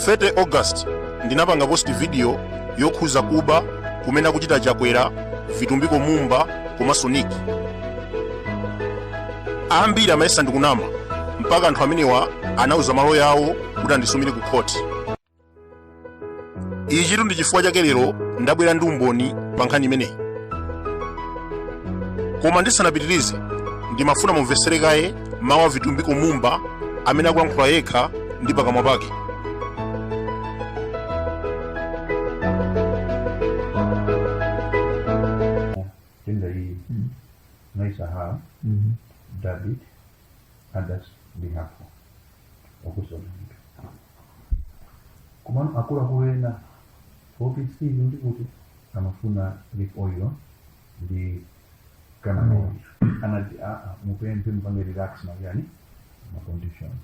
30 august ndinapanga post video yokhuza kuba kumene akuchita chakwera vitumbiko mumba komanso nick ambiri amayesa ndikunama mpaka anthu amenewa anauza malo yawo kuti andisumire ku khoti ichi ndi chifukwa chake lero ndabwera ndi umboni pa nkhani imeneyi koma ndisanapitirize ndimafuna mumvetsere kaye mawu a vitumbiko mumba amene akulankhula yekha ndi pakamwa pake wakuzonaika komano akuluakulu ena ofesi ndi kuti amafuna leaf oil ndi canola oil anati aa mupemphe mupange relax ma nganii ma conditions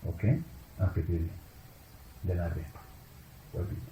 okay apitile then apepa wabiti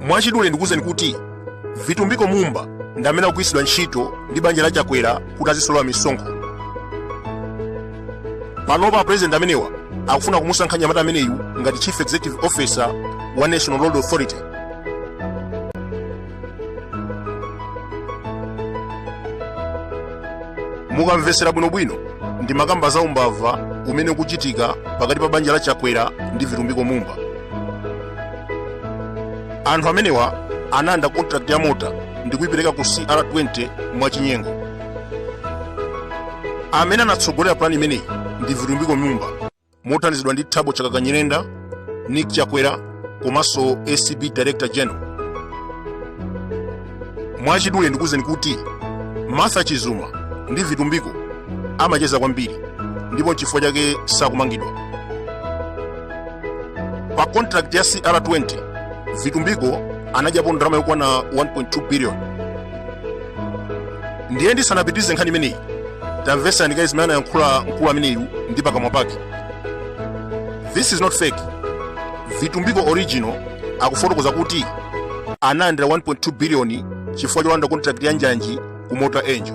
mwachidule ndikuwuzeni kuti vitumbiko mumba ndi amene akugwiritsidwa ntchito ndi banja la chakwera kuti azisolola misonkho panopa apurezidenti amenewa akufuna kumusankha nyamata ameneyu ngati chief executive officer wa national roads authority mukamvetsera bwinobwino ndimakamba za umbava umene ukuchitika pakati pa banja la chakwera ndi vitumbiko mumba anthu amenewa analanda contract ya mota ndi kuyipereka ku cr20 mwachinyengo amene anatsogolera pulani imeneyi ndi vitumbiko mumba mothandizidwa ndi thabo chakaka nyirenda nick chakwera komanso acb director general mwachidule ndikuwuzeni kuti martha chizuma ndi vitumbiko amacheza kwambiri ndipo nchifukwa chake sakumangidwa pa contract ya cr20 vitumbiko anadyapo ndalama yokwana 1.2 billion ndiye ndisanapitirize nkhani imeneyi tamvetserani kaye zimene anayankhula mkulu ameneyu ndi pakamwa pake this is not fake vitumbiko original akufotokoza kuti analandira 1.2 biliyoni chifukwa cholanda contract ya njanji ku mota engil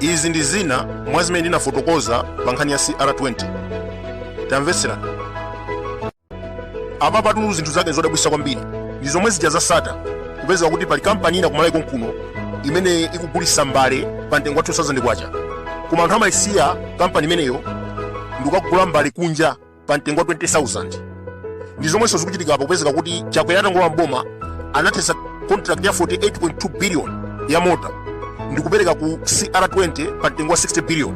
izi ndi zina mwa zimene ndinafotokoza pa nkhani ya cr20 tamvetserani apa patu zinthu zake ndi zodabwisa kwambiri ndi zomwe zija za satar kupezeka kuti pali kampani ina ku malawi konkuno imene ikugulisa mbale pa mtengo wa 2000 kwacha koma anthu amayisiya kampani imeneyo ndikukagula mbale kunja pa mtengo wa 20000 ndi zomwenso zikuchitika apa kupezeka kuti chakwera atangolowa mboma anathetsa contract ya 48.2 billion ya mota ndi kupereka ku cr20 pa mtengo wa 60 billion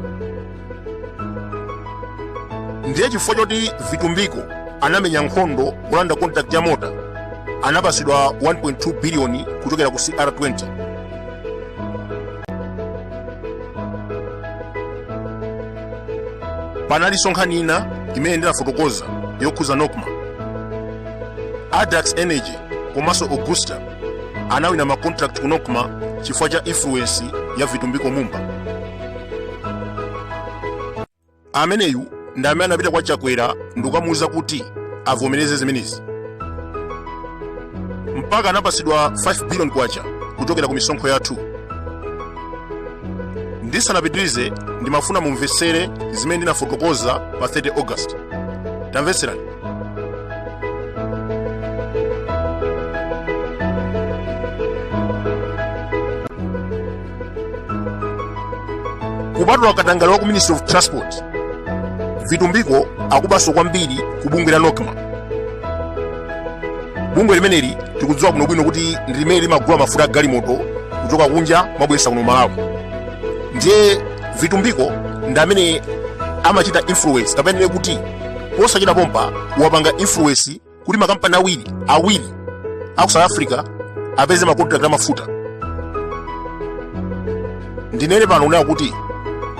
ndiye chifukwa choti vitumbiko anamenya nkhondo kulanda contract ya mota anapasidwa 1.2 billion kuchokera ku cr20 panalinso nkhani ina imene ndinafotokoza yokhuza nocma adax energy komanso augusta anawina ma contract ku nocma chifukwa cha influence ya vitumbiko mumba ameneyu ndi amene anapita kwa chakwera ndikukamuwuza kuti avomereze zimenezi mpaka anapasidwa 5 billion kwacha kuchokera ku misonkho yathu ndisanapitirize ndimafuna mumvetsere zimene ndinafotokoza pa 30 august tamvetserani kupatula katangale wa ku ministry of transport vitumbiko akubaso kwambiri ku bungwe la nocma bungwe limeneli tikudziwa bwinobwino kuti ndi limene limagula mafuta a galimoto kuchoka kunja kumabweretsa kuno malawi ndiye vitumbiko ndi amene amachita influence kapena tinene kuti posachedwa pompa wapanga influence kuti makampani awiri aku south africa apeze makontrakt amafuta ndinene pano kunena kuti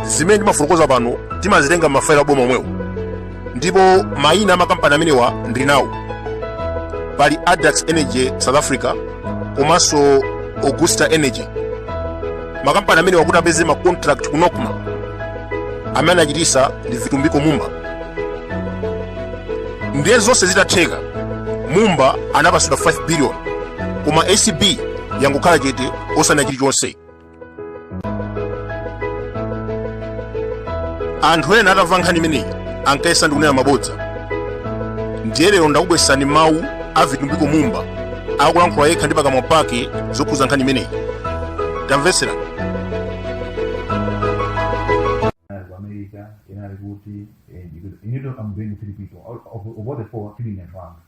zimene ndimafotokoza pano timazitenga m'mafailo aboma omwewo ndipo mayina a makampani amenewa ndili nawo pali adax energy south africa komanso augusta energy makampani amenewa kuti apeze ma contract ku nocma amene anachitisa ndi vitumbiko mumba ndiye zonse zitatheka mumba anapasidwa 5 billion koma acb yangokhala chete osanena chilichonse anthu ena atamva nkhani imeneyi ankayesa ndikunena mabodza ndiye lero ndakubweretsani mawu a vitumbiko mumba akulankhula yekha ndi pakamwa pake zokhuza nkhani imeneyi tamvetsera inali ku america inali kuti eh, because you know i'm doing three people All- of, of all the four three in advance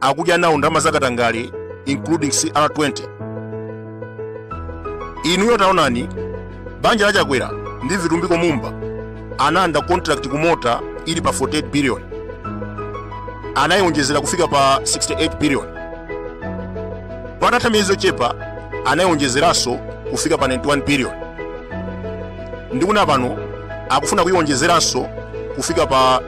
akudya nawo ndalama zakatangale including cr20 inuyo taonani banja la chakwera ndi vitumbiko mumba analanda contract kumota ili pa 48 billion anayionjezera kufika pa 68 billion patatha miyezi yochepa anayionjezeranso kufika pa 91 billion ndikunena pano akufuna kuionjezeranso kufika pa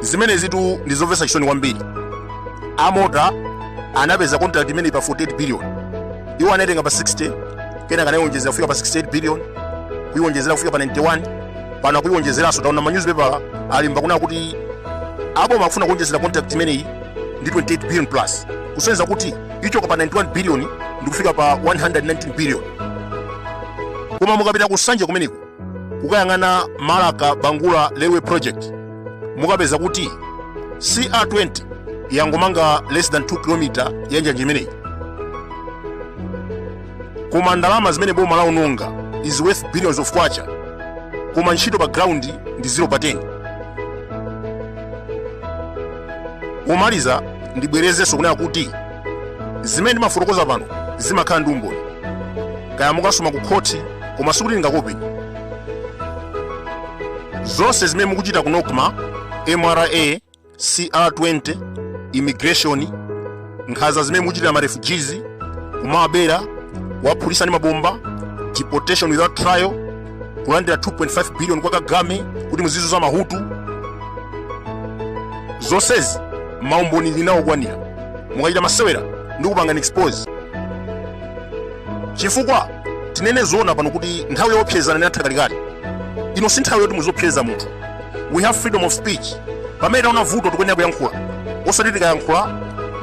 zimenezitu ndi zomvetsa chisoni kwambiri amota anapeza contract imeneyi pa 48 billion iwo anaitenga pa 60 kenaka anaiwonjezera kufika pa 68 billion kuiwonjezera kufika pa 91 pano akuiwonjezeranso taona manyuzipepala alemba kunena kuti aboma akufuna kuwonjezera contract imeneyi ndi 28 billion plus kusonyeza kuti ichoka pa 91 billion ndi kufika pa 119 billion koma mukapita ku nsanje kumeneko kukayang'ana marka bangula railway project mukapeza kuti cr20 yangomanga less than 2 km ya njanje imeneyi koma ndalama zimene boma lawononga is worth billions of kwacha koma ntchito pa ground ndi 0 pa 10 pomaliza ndibwerezenso kunena kuti zimene ndimafotokoza pano zimakhala ndi umboni kaya mukasuma ku khoti koma sikuti ndingakuopeni zonse zimene mukuchita ku nocma mra cr20 immigration nkhanza zimene mukuchitira ma refugees kumawabera kuwaphulitsa ndi mabomba deportation without trial kulandira 2.5 billion kwa kagame kuti muzizuza mahutu zonsezi maumboni ndili nawo okwanira mukachita masewera ndikupangani expose chifukwa tinene zoona pano kuti nthawi yopsezana inatha kalekale ino si nthawi yoti muziopseza munthu we have freedom of speech pamene taona vuto tikuyenera kuyankhula osati tikayankhula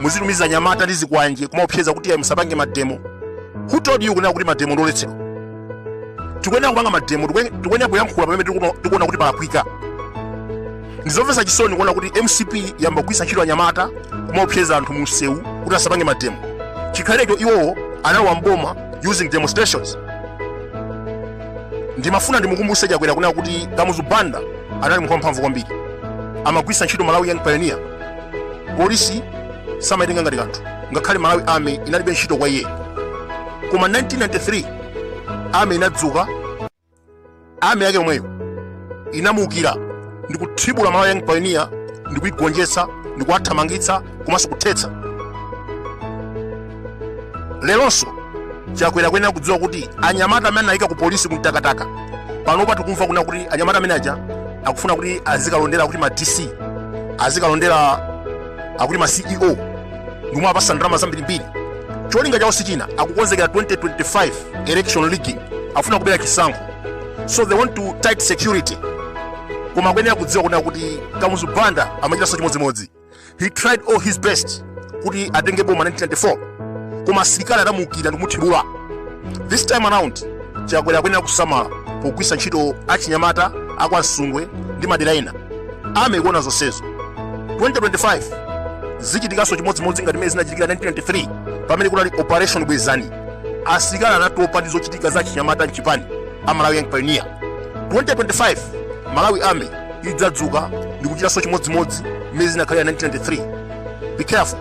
muzitumiza anyamata ndi zikwanje kumaopseza kuti ayi musapange mademo who told you kunena kuti mademo ndoletsedwa tikuyenera kupanga mademo tikuyenera kuyankhula pamene tikuona kuti palakwika ndizomvetsa chisoni kuona kuti mcp yamba kugwiritsa ntchito anyamata kumaopseza anthu mu msewu kuti asapange mademo chikhalirecho iwowo analowa mboma using demonstrations ndimafuna ndimukumbutse chakwera kunena kuti kamuzu banda anali munthu wamphamvu kwambiri amagwiritsa ntchito malawi young pioneer polisi samaitenga ngati kanthu ngakhale malawi army inalibe ntchito kwa iye koma 1993 army inadzuka army yake yomweyo inamuukira ndi kuthibula malawi young pioneer ndi kuigonjetsa ndi kuwathamangitsa komanso kuthetsa leronso chakwera akuyenera kudziwa kuti anyamata amene anayika ku polisi ku mtakataka panopa tikumva kunena kuti anyamata amene aja akufuna kuti azikalondera kuti ma dc azikalondera akuti ma ceo ndi omwe apasa ndalama zambirimbiri cholinga chawo sichina akukonzekera 2025 election rigging afuna kubera chisankho so they want to tight security koma akuyenera kudziwa kunena kuti kamuzu banda amachitanso chimodzimodzi he tried all his best kuti atenge boma 1994 koma asilikali adamuukira ndikumuthibula this time around chakwera akuyenera kusamala pogwiritsa ntchito achinyamata akwa Msundwe ndi madera ena army ikuona zonsezo 2025 zichitikanso chimodzimodzi ngati mmene zinachitikira 1993 pamene kunali operation bwezani asilikali anatopa ndi zochitika za achinyamata mchipani a malawi young pioneer 2025 malawi army idzadzuka ndi kuchitanso chimodzimodzi mmene zinakhalira 1993 be careful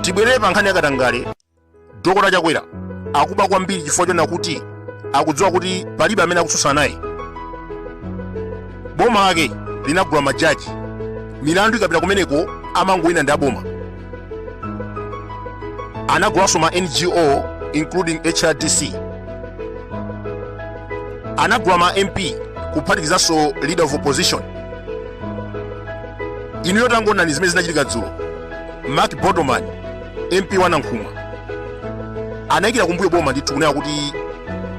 tibwerere pa nkhani yakatangale Dokota Chakwera akuba kwambiri chifukwa chonena kuti akudziwa kuti palibe amene akutsutsana naye. Boma lake linagula majaji, milandu ikapita kumeneko amangowina ndi aboma. Anagulanso ma NGO including HRDC. Anagula ma MP kuphatikizanso leader of opposition. Inu tangoonani zimene zinachitika dzulo. Mark Botoman mp wa nankhumwa anayikira kumbuyo boma ndithu kunena kuti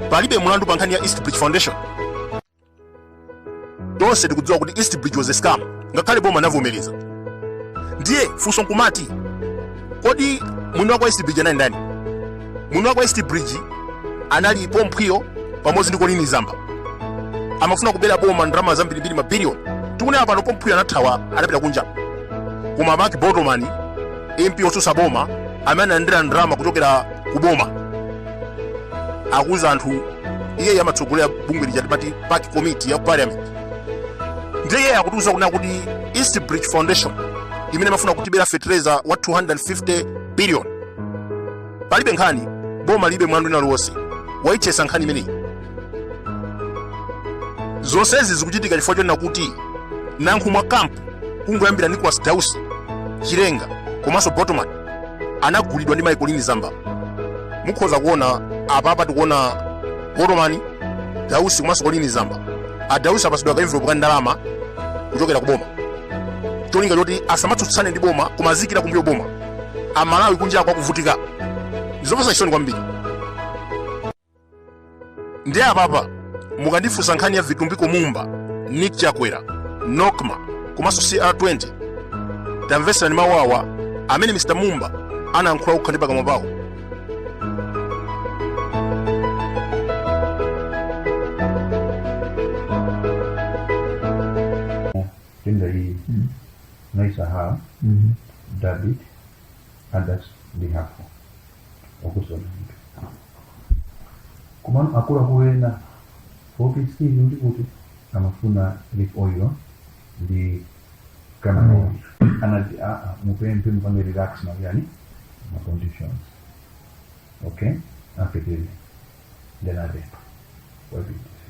palibe mlandu pa nkhani ya east bridge foundation tonse tikudziwa kuti east bridge was a scam ngakhale boma anavomereza ndiye funso nkumati kodi mwini wake wa east bridge anali ndani mwini wake wa east bridge anali pomphwiyo pamodzi ndi colleen zamba amafuna kubera boma ndalama zambirimbiri mabiliyoni tikunena pano pomphwiyo anathawa anapita kunja koma mark botoman mp otsutsa boma amene analandira ndalama kuchokera ku boma akuwuza anthu iyeyo amatsogolera bungwe lija timati pac committee ya parliament ndiye iyeyo akutiwuza kunena kuti east bridge foundation imene amafuna kutibera fertilizer wa 250 billion palibe nkhani boma lilibe mlandu wina uliwonse wayithetsa nkhani imeneyi zonsezi zikuchitika chifukwa chonena kuti nankhumwa camp kungoyambira nicolas dausi chilenga komanso botoman anagulidwa ndi mai colleen zamba mukhoza kuona apapa tikuona botoman dausi komanso colleen zamba adausi apasidwa ka envelope ka ndalama kuchokera ku boma cholinga choti asamatsutsane ndi boma koma aziikira kumbuyo boma amalawi kunja akuvutika ndizopasa chisoni kwambiri ndi apapa mukandifunsa nkhani ya vitumbiko mumba nick chakwera nokma komanso cr20 tamvetserani mawuwa amene mr mumba anayankhula okha ndi pakamwa pawo in the league. Mm. Nice aha. Mm-hmm. David, and that's the half. Okusona. komano akuluakulu ena office hii ndikuti amafuna leaf oil ndi kaya anati mupemphe mupange relax njani ma conditions okay apitile ndinapepa wapitise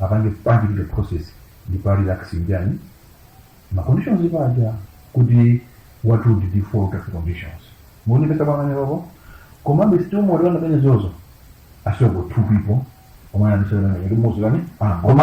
apange party ite process ndi party relax njani ma conditions paja kuti what would default of conditions muonekesa pamene papo komabe still mwaliwona pene zozo asioko two people omwe anandisewera kuti muzikani angoma